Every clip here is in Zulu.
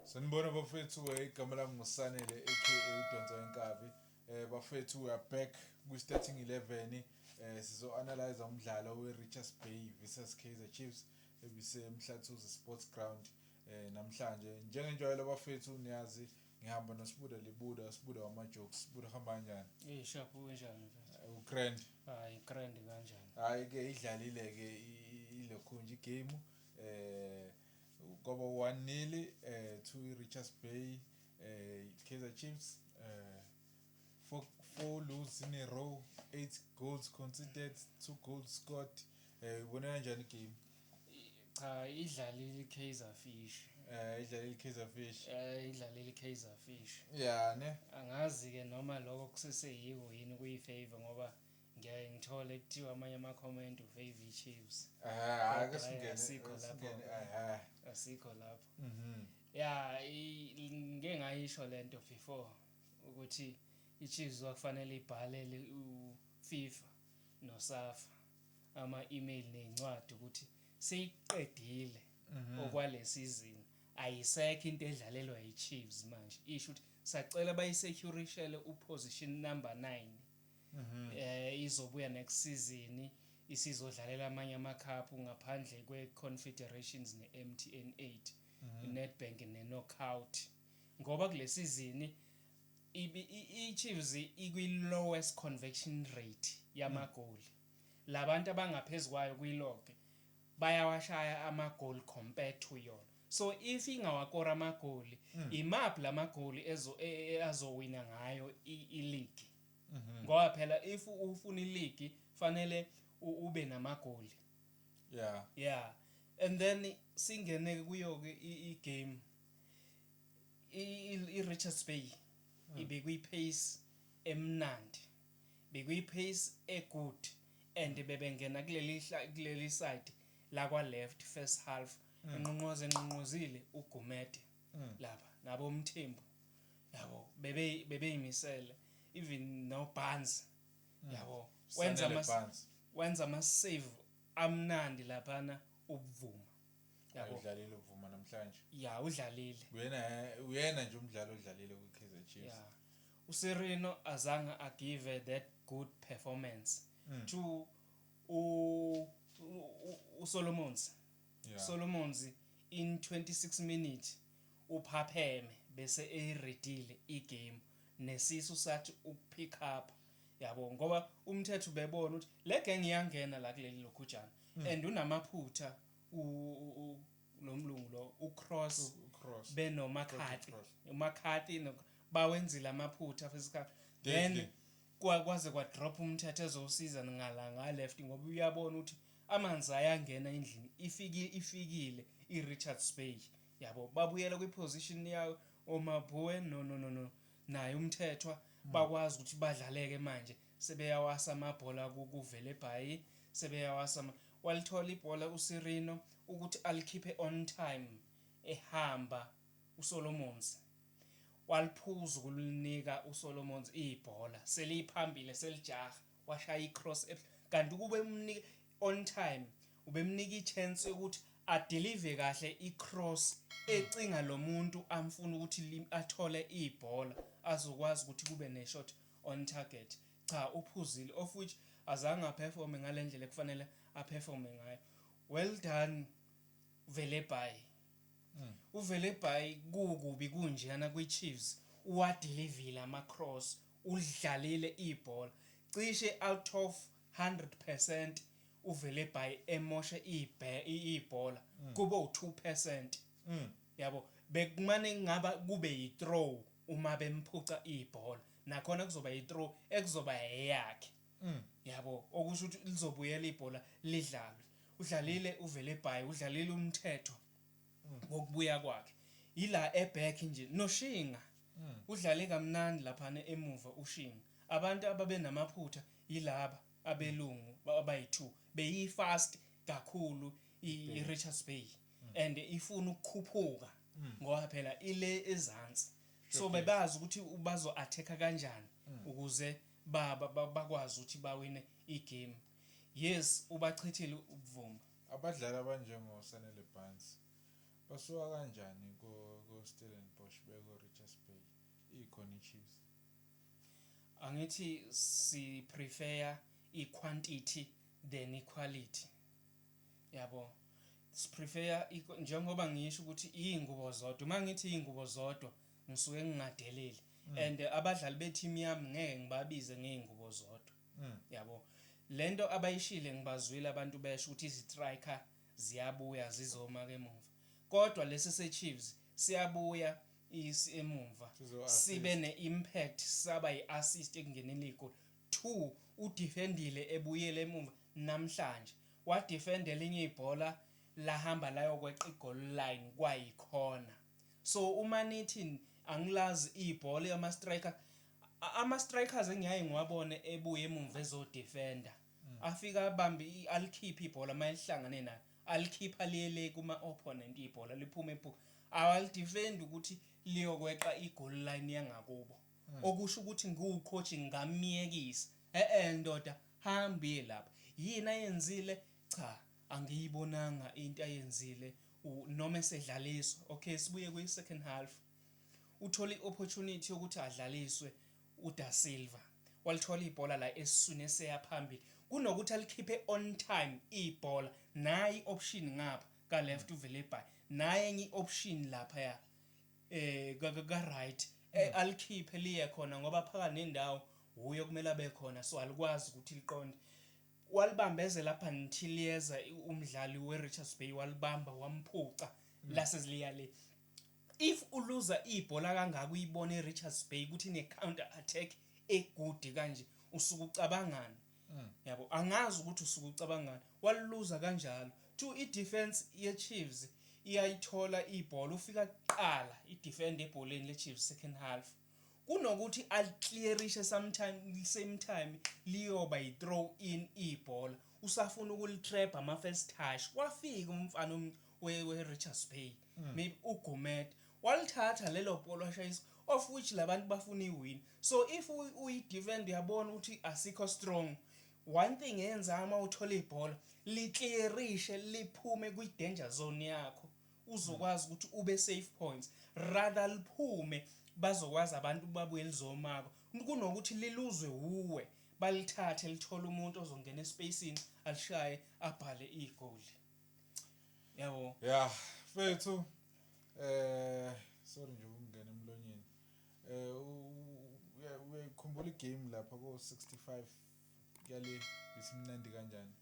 sanibona bafethu eh, igama lami ngusanele aka udonsa wenkabi eh bafethu we are back kwi-starting 11 eh sizo-analyza umdlalo we-richards bay versus kaizer chiefs ebisemhlathuzi sports ground eh namhlanje njengenjwayelo bafethu niyazi ngihamba nosibuda libuda sibuda wama-jokes sibuda hamba kanjani Eh shabu kunjani mfethu? Eh, ugrand Hayi grand kanjani? hhayi-ke idlalile-ke ilokhunje igame eh Kobo 1 nili eh, to Richards Bay eh, Kaizer Chiefs eh, four, four lose in a row eight goals conceded two goals scored eh, ubone kanjani game cha idlalile i-kaizer fish eh, idlalile i-kaizer fish eh, idlalile i-kaizer fish ya ne angazi-ke noma lokho kuseseyiko yini kuyi-favor ngoba Ngiyaye ngithole kuthiwa amanye ama-comment ufav chiefs asikho lapho asikho lapho mhm. ya ngike ngayisho le nto before ukuthi i-chiefs kwakufanele ibhalele ufifa nosafa ama-email ney'ncwadi ukuthi seyiqedile mhm. okwale sizini ayisekho into edlalelwa yi-chiefs manje isho ukuthi sacela bayisecurishelwe uposition number nine eh izobuya next season isizodlalela amanye amakhaphu ngaphandle kweConfederations neMTN 8 iNedbank neKnockout ngoba kule sizini iChiefs ikwi-lowest conviction rate yamagoli labantu abangaphezulu kwayo kwi-log bayawashaya amagoli compared to yona so if ingawakora amagoli imaphi lamagoli e, e, azowina ngayo ileague Mhm. ngoba phela if ufuna iligi fanele u- ube namagoli yeah yeah and then singene kuyo-ke i- i-game I- i- i-richards bay ibekuyi-pace emnandi bekuyi-pace egood and bebengena kuleli hla- kuleli side lakwa-left first half enqonqoze enqonqozile ugumede mm. laba nabo umthembu yabo bebe bebeyimisele even no bans mm. yabo wenza ama wenza ama save amnandi laphana ubuvuma yabo udlalile ubuvuma namhlanje ya udlalile uyena uyena nje umdlalo odlalile ku KZG Chiefs yeah. uSirino azange agive that good performance mm. to u uSolomons yeah. Solomons in 26 minutes uphapheme bese eyiredile igame nesisu sathi ukupick up yabo ngoba umthetho bebona ukuthi le gang iyangena la kuleli lokhujana mm. and unamaphutha u lo mlungu lo ucross benomakhathi umakhathi bawenzile amaphutha fesikhathi then kwaze kwadrop umthetho ezosiza ngala ngaleft ngoba uyabona ukuthi Amanzi ayangena endlini ifikile ifikile i Richards Bay yabo babuyela kwi position yawo oMabue no no no no naye uMthethwa bakwazi ukuthi badlaleke manje sebeyawasa amabhola ku kuVelebhayi sebeyawasa ama walithola ibhola uSirino ukuthi alikhiphe on time ehamba uSolomons waliphuza ukulinika uSolomons ibhola seliphambile selijaha washaya icross kanti ukube umnike on time ubemnika ichance yokuthi adelive kahle icross ecinga lo muntu amfuna ukuthi athole ibhola azokwazi ukuthi kube neshot on target cha uphuzile of which azange aperforme ngale ndlela ekufanele aperforme ngayo well done vele bye Uvele by kukubi kunjena kwi Chiefs uwadilivile ama cross ulidlalile ibhola cishe out of 100 percent uvele by emoshe ibhola kube u two percent yabo bekumane kungaba kube yi throw uma bemphuca ibhola nakhona kuzoba yi throw ekuzoba eyakhe. Mm. Yabo okusho ukuthi lizobuyela ibhola lidlalwe. Udlalile mm. uvele ebhayi, udlalile umthetho mm. ngokubuya kwakhe. Yila eback nje noshinga. Mm. Udlale kamnandi lapha emuva ushinga. Abantu ababenamaphutha yilaba abelungu abayi2 beyi fast kakhulu i Richards Bay mm. and ifuna ukukhuphuka mm. ngoba phela ile ezansi. So bebazi ukuthi bazo attack kanjani ukuze baba bakwazi ukuthi bawine igame yes ubachithile uBvuma. Abadlali abanjengo Sanele Barns basuka kanjani ko Stellenbosch beye ko Richards Bay ikhona iChiefs. Angithi si prefer i quantity than i quality yabo si prefer njengoba ngisho ukuthi izingubo zodwa uma ngithi izingubo zodwa ngisuke ngingadeleli mm. and abadlali be team yami ngeke ngibabize ngeyingubo zodwa mm. yabo lento abayishile ngibazwile abantu besho ukuthi izitriker ziyabuya zizoma ke emuva kodwa lesi seChiefs siyabuya isi emuva sibe neimpact saba iassist ekungeneni igoli 2 udefendile ebuyele emuva namhlanje wadefendela inye ibhola lahamba layokweqa igoli line kwayikhona So uma nithi angilazi ibhola ama striker ama strikers engiyaye ngiwabone ebuya emumva ezo defender afika abambe alikhiphe ibhola mayelihlangane naye alikhipha liyele kuma opponent ibhola liphuma ebuka awalidefend ukuthi liyokweqa igoal line yangakubo hmm. okusho ukuthi ngiwucoach ngamyekisa eh eh ndoda hamba iye lapha yini ayenzile cha Angiyibonanga into ayenzile u noma esedlaliswa ok sibuye kwi second half uthole i opportunity yokuthi adlaliswe u Da Silva walithola ibhola la esiswini eseya phambili kunokuthi alikhiphe on time ibhola nayi option ngapha ka left uVelebhayi naye enye i option lapha ya eh ka ka right eh, alikhiphe liye khona ngoba phakathi nendawo wuye okumele abe khona so alikwazi ukuthi liqonde Walibambezela up until yeza umdlali we Richards Bay walibamba wamphuca lase liya le. If u looser ibhola kangaka uyibona e Richards Bay ukuthi ine counter attack e good kanje usuke ucabangani? Yabo angazi ukuthi usuke ucabangani. Wali looser kanjalo. Two i defence ye Chiefs iyayithola ibhola ufika kuqala i defender ebholeni le Chiefs second half. Kunokuthi aliclearishe sometime same time liyoba yi-throw in ibhola usafuna ukulitrabha ama-first touch. Wafika umfana we-Richards Bay maybe uGumede walithatha lelo bhola washayisa of which la bantu bafuna iwini. So if uyi-defender uyabona ukuthi asikho strong, one thing eyenzayo uma uthola ibhola liclearishe liphume kwi-danger zone yakho uzokwazi ukuthi ube safe points rather liphume bazokwazi abantu babuye lizomako kunokuthi liluzwe wuwe balithathe lithole umuntu ozongena espacini alishaye abhale igoli yabo yeah fethu eh sorry nje ukungena emlonyeni eh uyayikhumbula igame lapha ko 65 Yale bisimnandi kanjani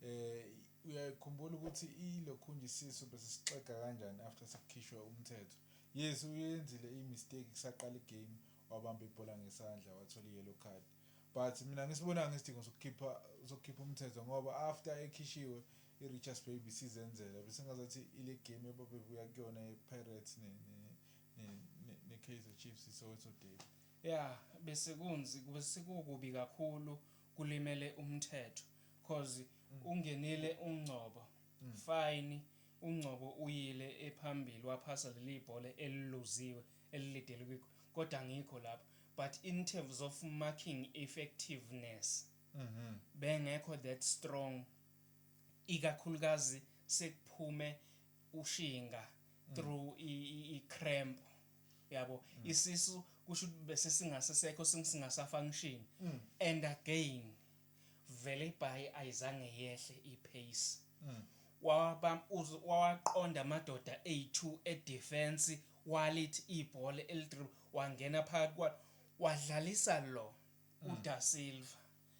eh uyakhumbula ukuthi ilokhunje isisu besisixega kanjani after sekukhishwe umthetho yes uyenzile i mistake kusaqala i game wabamba ibhola ngesandla wathola i yellow card but mina ngisibonanga isidingo sokukhipha sokukhipha umthetho ngoba after ekhishiwe i Richards Bay bisizenzela besingazathi ile game ebabebuya kuyona ye Pirates ne ne ne, ne, ne Kaizer Chiefs so it's okay Ya besekunzi besekukubi kakhulu kulimele umthetho coz ungenile uNgcobo fine uNgcobo uyile ephambili waphasa lelibhola eliluziwe elilideli kwi kodwa angikho lapho but in terms of marking effectiveness bengekho that strong ikakhulukazi sekuphume ushinga through i cramp. yabo mm. isisu kusho ukuthi bese singasesekho singasasa function mm. and again vele ibhayi ayizange yehle ipace mm. waba waqonda amadoda a2 edefense walithi ibhola elidrib wangena phakathi kwa wadlalisa lo mm. uDa Silva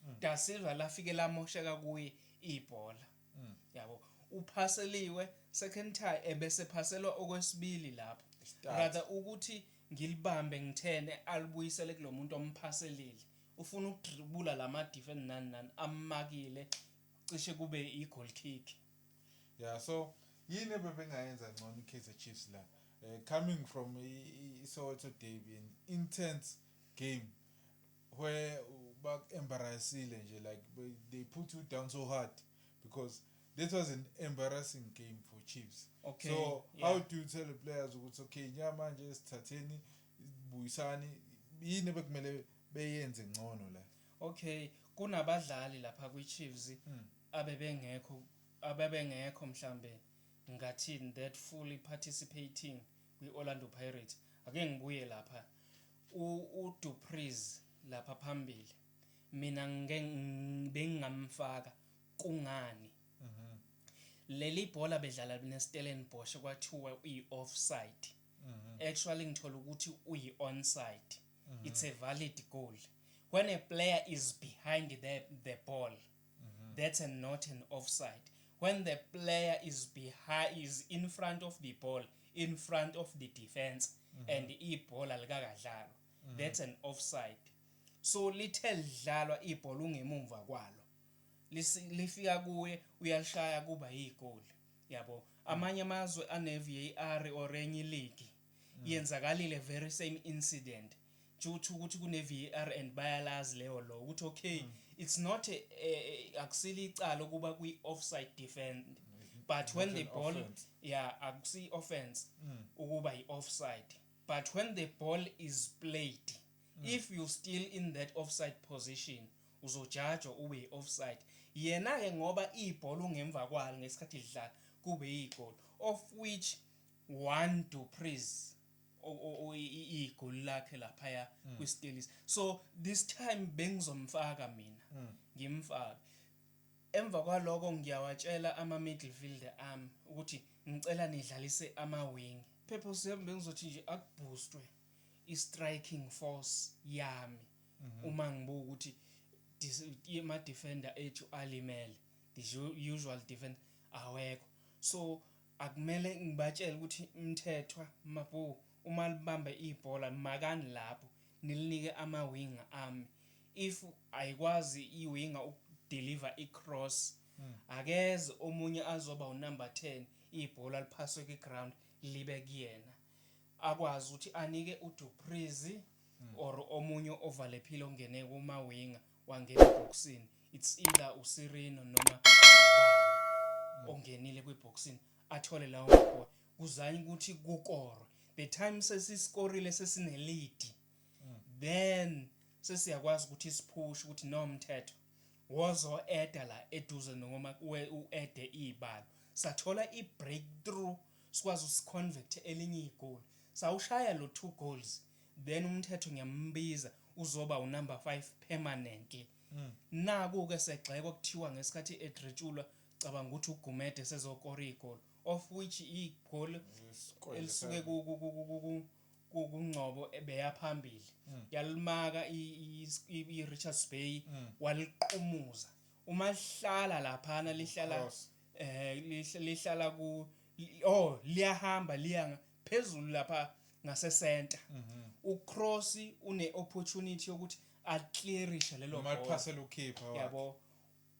mm. Da Silva lafike lamosheka kuye ibhola mm. yabo uphaseliwe second time ebese phaselwa okwesibili lapho rather ukuthi ngilibambe ngithene alibuyisele kulomuntu omphaselile ufuna ukudribula lama defend nani nani amakile cishe kube i goal kick yeah so yini bebengayenza ngcono iKaizer Chiefs la eh, coming from iSoweto derby an intense game where baku-embarrassile nje like they put you down so hard because that was an embarrassing game for Chiefs okay, so yeah. how do you tell the players ukuthi okay nya manje sithatheni buyisani yini ebekumele beyenze ngcono la okay kunabadlali lapha kwi-Chiefs mm. abebengekho abebengekho mhlambe ngathini that fully participating kwi-Orlando Pirates. Ake ngibuye lapha uDu Preez lapha phambili mina bengingamfaka kungani mhm. leli bhola bedlala neStellenbosch kwathiwa uyi-offside mhm. actually ngithola ukuthi uyi-onside mhm. it's a valid goal when a player is behind the, the ball mm -hmm. that's a not an offside when the player is behind is in front of the ball in front of the defense mm -hmm. and ibhola alikakadlalwa mm -hmm. that's an offside so lithe lidlalwa ibhola ungemumva kwalo lifika kuye uyalishaya kuba yigoli yabo amanye amazwe ane-var or enye iligi mm. yenzakalile very same incident Chuthi ukuthi kune VAR and bayalazi leyo law ukuthi okay mm. it's not a, a, a akusile icala ukuba kwi offside defend mm. but when the ball offense. yeah akusi offense mm. ukuba i offside but when the ball is played mm. if you still in that offside position uzojajwa ube i offside yena ke ngoba ibhola ungemva kwalo ngesikhathi lidlala kube igol of which one to praise igoli lakhe laphaya mm. kwistelisi so this time bengizomfaka mina mm. ngimfake emva kwaloko ngiyawatshela ama-midfielder ami ukuthi ngicela nidlalise ama-wing purpose yami bengizothi nje akubhoostwe i-striking force yami mhm. uma ngibuka ukuthi ama-defender ethu alimele the usual defender awekho so Akumele ngibatshele ukuthi Mthethwa, Mabhoo uma libambe ibhola limakani lapho nilinike ama winger ami if ayikwazi i winger uku deliver i cross akeze omunye azoba u number 10 ibhola liphaswe kwi ground libe kuyena akwazi ukuthi anike u Du Preez or omunye ovalephile ongene kuma winger wangena ebhokisini it's either usirino noma ongenile kwibhokisini athole lawo mabhola kuzanye ukuthi kukorwe the time sesisikorile sesinelead then sesiyakwazi ukuthi siphushe ukuthi nomthetho wozo eda la eduze noma uede ibalo sathola i breakthrough sikwazi usiconvert elinye igoli sawushaya lo two goals then umthetho ngiyambiza uzoba unumber 5 permanently mm. naku ke segxeko kuthiwa ngesikhathi edretshulwa cabanga ukuthi ugumede sezokora igoli of which igoli elisuke kungcobo ebeya phambili mm. yalimaka i Richards Bay mm. waliqumuza uma lihlala laphana lihlala eh lihlala ku oh liyahamba liya phezulu lapha ngase center mhm. uCross une opportunity yokuthi aclearishe lelo noma iphase lokhipha yabo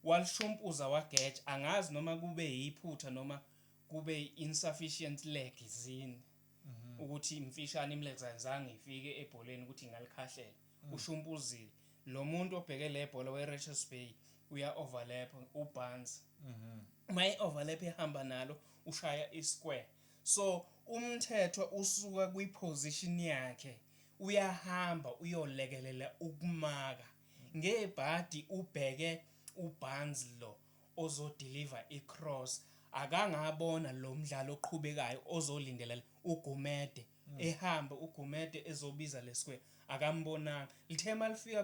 walishompuza wageja angazi noma kube yiphutha noma kube insufficient leg zini mhm. ukuthi imfishane imlegs ayizange ifike ebholeni ukuthi ingalikhahlela mm. ushumpuzile lo muntu obheke le bhola weRichards Bay uya overlap uBarnes mhm. uma i overlap ihamba nalo ushaya isquare So umthetho usuka kwi position yakhe uyahamba uyolekelela ukumaka ngebhadi ubheke uBarnes lo ozodeliver icross akangabona lo mdlali oqhubekayo ozolindelela uGumede hmm. ehambe uGumede ezobiza lesquare akambonanga lithe malifika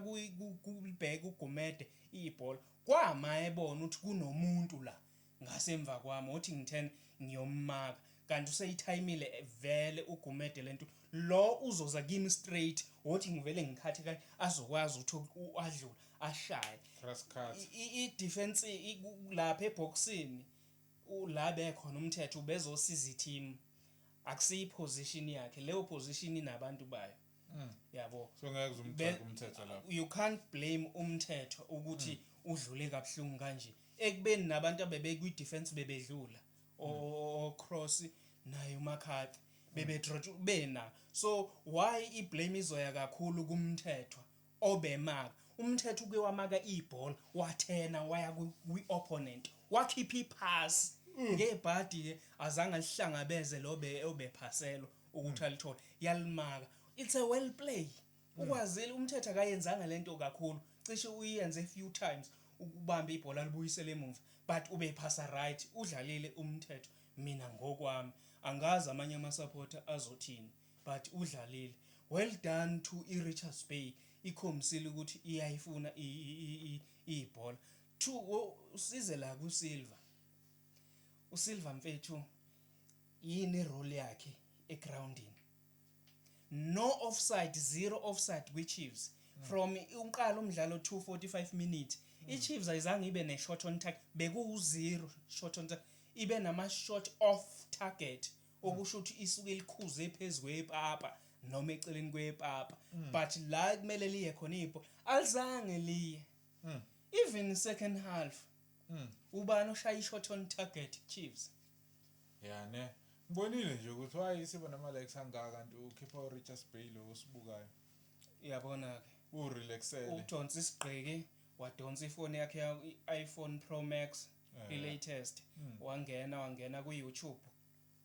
kubheka uGumede ibhola kwama ebona ukuthi kunomuntu la Ngase mva kwami wothi ngithen ngiyommaka kanti useyithayimile vele uGumede lento lo uzoza kimi straight wothi ngivele ngikhathe kanye azokwazi ukuthi adlula ashaye Press cut. I- i- i-defense i- ku- lapha ebhoksini u- la bekhona umthetho ubezosiza i-team akusiyi position yakhe leyo position inabantu bayo mm. yabo so ngeke umgxeke umthetho lapho you can't blame umthetho ukuthi mm. udlule kabuhlungu kanje ekubeni nabantu abebekwi defense bebedlula mm. o cross naye umakhathi bebe trot bena so why i blame izoya kakhulu kumthethwa obemaka uMthetho uke wamaka ibhola wathena waya kwi-opponent wakhipha iphasi mm. ngebhadi-ke azange alihlangabeze lo obephaselwa ukuthi mm. alithole yalimaka it's a well play mm. ukwazile umthetho akayenzanga lento kakhulu cishe uyenze a few times ukubamba ibhola libuyisele emuva but ubephasa right udlalile umthetho mina ngokwami angazi amanye amasupporter azothini but udlalile well done to iRichards Bay ikhombisile ukuthi iyayifuna ibhola two usize la kuSilva uSilva mfethu yini role yakhe egroundini no offside zero offside kwiChiefs mm. from uqala umdlalo 245 minutes mm. iChiefs ayizange ibe ne shot on target bekuwu zero shot on target ibe nama shot off target okusho ukuthi isuke likhuze phezu kwepapa noma eceleni kwepapa mm. but la kumele liye khona ipo alizange liye mm. even second half mm. ubani oshaya ishot on target chiefs yeah ne ngibonile nje ukuthi wayi siba nama likes angaka kanti ukhipha uRichards Bay lo osibukayo uyabona ke urelaxele ujonsa isigqiki wadonsa ifoni yakhe i-iPhone Pro Max eh. i-latest hmm. wangena wangena ku-YouTube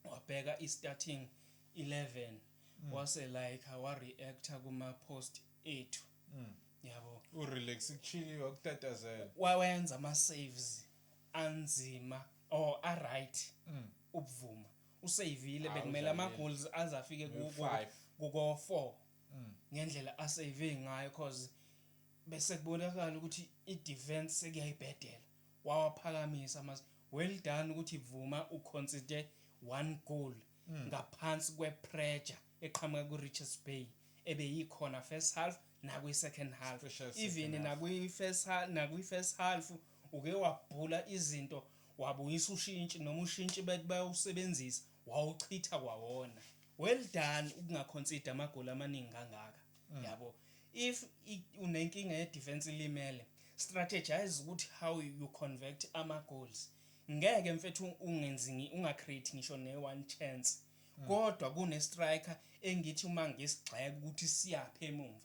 wabheka i-starting eleven mm. wase like wa reactor kuma post ethu mm. yabo u relax kuchili wakutatazela wawenza ama saves anzima or a right mm. ubuvuma usavile bekumele ama goals azafike ku ko 4 mm. ngendlela asave ngayo cause bese kubonakala ukuthi i defense sekuyayibhedela wawaphakamisa amazwi well done ukuthi Bvuma u concede one goal ngaphansi kwe pressure eqhamuka ku Richards Bay ebeyikhona first half nakwi second half Special second even half. nakwi first ha nakwi first half uke wabhula izinto wabuyisa ushintshi noma ushintshi bethi bayawusebenzisa wawuchitha kwawona well done ukunga concede amagoli amaningi kangaka. mm. yabo if unenkinga ye defense ilimele strategize ukuthi how you convert ama goals ngeke mfethu ungenzi unga create ngisho ne one chance mm. kodwa kune striker engithi uma ngesigxeka ukuthi siyaphe emumva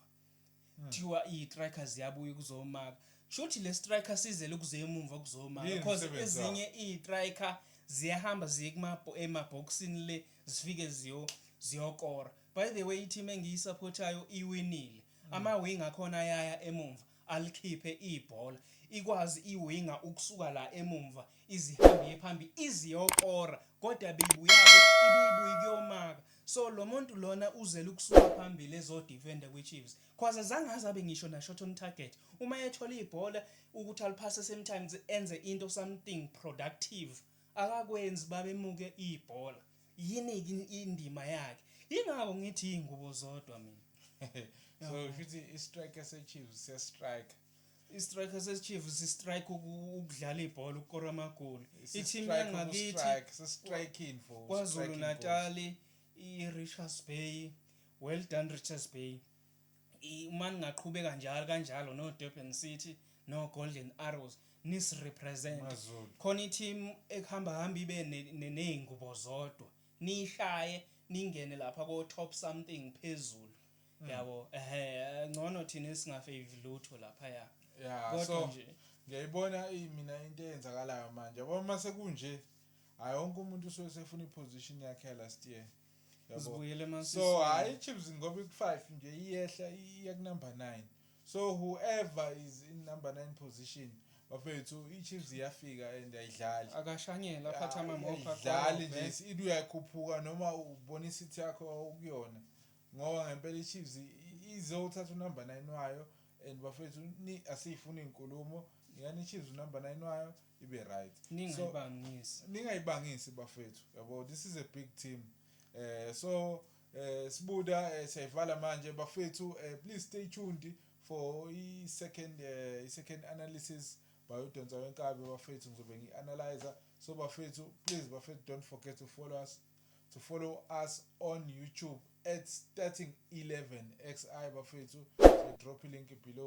mm. thiwa i strikers yabuya kuzomaka shuthi le striker sizele kuze emumva kuzomaka because ezinye i striker ziyahamba ziye kuma emaboxini le zifike ziyo ziyokora By the way iteam engiyisaphothayo iwinile. Ama wing akhona ayaya emumva alikhiphe ibhola. Ikwazi i winger ukusuka la emumva izihambie phambi iziyokora kodwa beyibuyaphi ibiyibuyi kuyomaka. So lomuntu lona uzele ukusuka phambili ezodefenda kwiChiefs. Cause azange aze abe ngisho na shot on target. Uma ethola ibhola ukuthi aliphase sometimes enze into something productive akakwenzi babemuke ibhola. yini indima yakhe ingakho ngithi ingubo zodwa mina so shuthi i striker se Chiefs se striker istriker sesichiefs sistrike ukudlala ibhola ukukora amagoli i-team yangakithi kwazulu natali i-richards bay well done richards bay uma ningaqhubeka njalo kanjalo no Durban City no Golden Arrows nis represent khona i-team ekuhamba hamba ibe nezingubo zodwa nishaye ningene lapha ko top something phezulu hmm. yabo ehe ngcono thina singafave lutho lapha ya yeah so ngiyayibona mina into eyenzakalayo manje yabo uma sekunje hayi wonke umuntu usuke sefuna iposition yakhe last year Yabo. So hayi iChiefs ngoba iku-5 nje iyehla iya kunumber 9. So whoever is in number 9 position bafethu iChiefs iyafika and ayidlali. Akashanyela aphatha amamopha idlali nje ithi uyakhuphuka noma ubona isithi yakho ukuyona. Ngoba ngempela iChiefs izothatha unumber 9 wayo and bafethu asiyifuni inkulumo. Yani iChiefs unumber 9 wayo ibe right ningayibangisi so, ningayibangisi bafethu yabo this is a big team eh so eh sibuda eh, siyayivala manje bafethu eh, please stay tuned for i second eh, i second analysis bayodonsa wenkabi bafethu ngizobe ngi analyzer so bafethu please bafethu don't forget to follow us to follow us on YouTube at starting 11 xi bafethu so drop link below